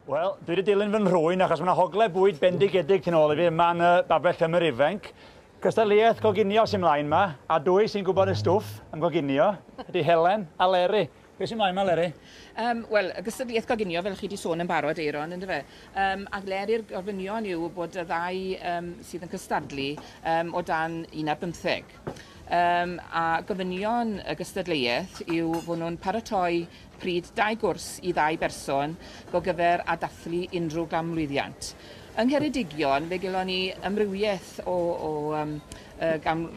Wel, dwi wedi dilyn fy nhrwyn achos mae'n hogle bwyd bendigedig tu ôl i fi yma'n uh, babell ymwyr ifanc. Cystadleuaeth goginio sy'n mlaen yma, a dwy sy'n gwybod y stwff am goginio ydy Helen a Leri. Be sy'n mlaen ma Leri? Um, Wel, y gystadleuaeth goginio, fel chi wedi sôn yn barod, Eiron, ynddo fe? Um, a gleri'r gofynion yw bod y ddau um, sydd yn cystadlu um, o dan un ar bymtheg. Um, a gofynion y gystadleuaeth yw fod nhw'n paratoi pryd dau gwrs i ddau berson go gyfer a dathlu unrhyw gamlwyddiant. Yng Ngheredigion, fe gelon ni ymrywiaeth o, o um, uh, gan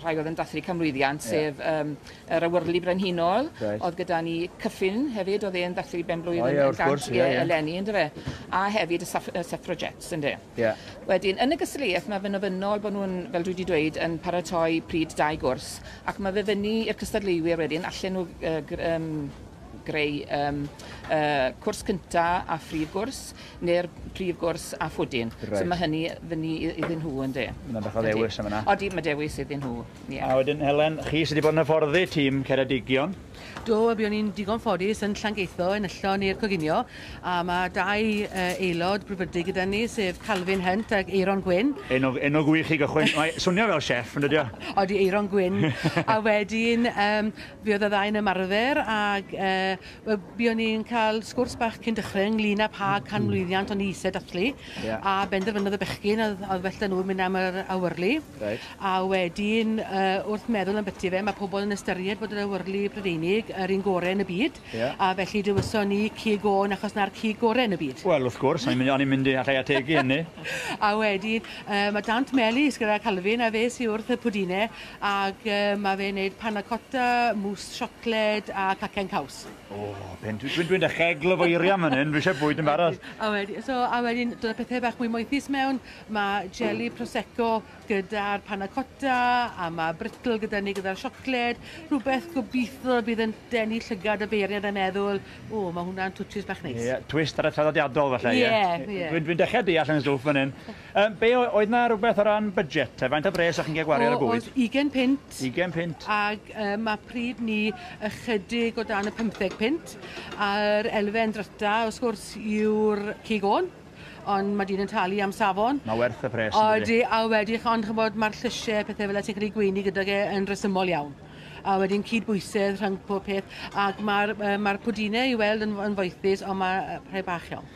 rhai oedd yn dathlu canmlwyddiant, yeah. sef um, yr awyrlu brenhinol, right. oedd gyda ni cyffin hefyd, oedd e'n dathlu benblwydd oh, yeah, yn gant course, yeah, yeah. eleni, ynddo fe, a hefyd y saf, suffragettes, ynddo yeah. Wedyn, yn y gystadleuaeth, mae fe'n ofynnol bod nhw'n, fel dwi wedi dweud, yn paratoi pryd dau gwrs, ac mae fe fyny i'r cystadleuwyr wedyn, allan nhw uh, um, greu um, uh, cwrs cyntaf a phrif gwrs. neu'r prif gwrs a phwdin. Reit. So mae hynny fyny iddyn nhw yn de. Mae'n bach o ddewis am yna. Odi, mae dewis iddyn nhw. Yeah. A wedyn Helen, chi sydd wedi bod yn hyfforddi tîm Ceredigion? Do, a buon ni'n digon ffodus yn Llangeitho, yn yllon i'r coginio, a mae dau uh, aelod brwdfrydig gyda ni, sef Calvin Hunt ac Eiron Gwyn. Enw, enw gwych i gychwyn. Mae swnio fel chef, yn dydio? Odi, Eiron Gwyn. a wedyn, um, fi oedd y ddau yn ymarfer, ac uh, Wel, buon ni'n cael sgwrs bach cyn dechrau ynglyn â pa canmlwyddiant o'n i eisiau dathlu. Yeah. A benderfynodd y bechgyn oedd, oedd well da nhw mynd am yr awyrlu. Right. A wedyn, uh, wrth meddwl am byti fe, mae pobl yn ystyried bod yr awyrlu Prydeinig yr un gorau yn y byd. Yeah. A felly dywyson ni cig o'n achos na'r cig gorau yn y byd. Wel, wrth gwrs, o'n i'n mynd i allai ategu hynny. a wedyn, uh, mae Dant Melis gyda Calvin a fe sy'n wrth y pwdinau ac uh, mae fe'n neud panna cotta, mousse chocolate, Lled a cacen caws. O, pen dwi, dwi'n dwi da chegl o feirio am hynny, dwi eisiau bwyd yn barod. A wedyn, so, a wedyn, dod y pethau bach mwy moethus mewn, mae jelly prosecco gyda'r panna cotta, a mae brittle gyda ni gyda'r siocled, rhywbeth gobeithio bydd yn denu llygad y beiriant a meddwl, o, mae hwnna'n twtshys bach neis. Ie, yeah, twist ar y traddodiadol falle, ie. Yeah, ie. Yeah. Dwi'n dwi dechrau deall yn stwff fan hyn. Yym, be' o- oedd 'na rwbeth o ran budget te? Faint o bres o'ch chi'n ga'l gwario ar y O, bwyd? o'dd ugen punt. Ugen punt. Ag yy ma' pryd 'ny ychydig o dan y pymtheg punt. A'r elfen dryta wrth gwrs yw'r cig ôn, ond ma' dyn yn talu am safon. Ma' werth y pres yndydi? Odi, a wedi ch- ond ch'mbod ma'r llysie pethe fela ti'n credu gweini gydag e yn resymol iawn. A wedyn cyd-bwysedd rhwng pob peth ac ma'r yy ma'r pwdine i weld yn f- yn foethus on' ma' yy rhai bach iawn.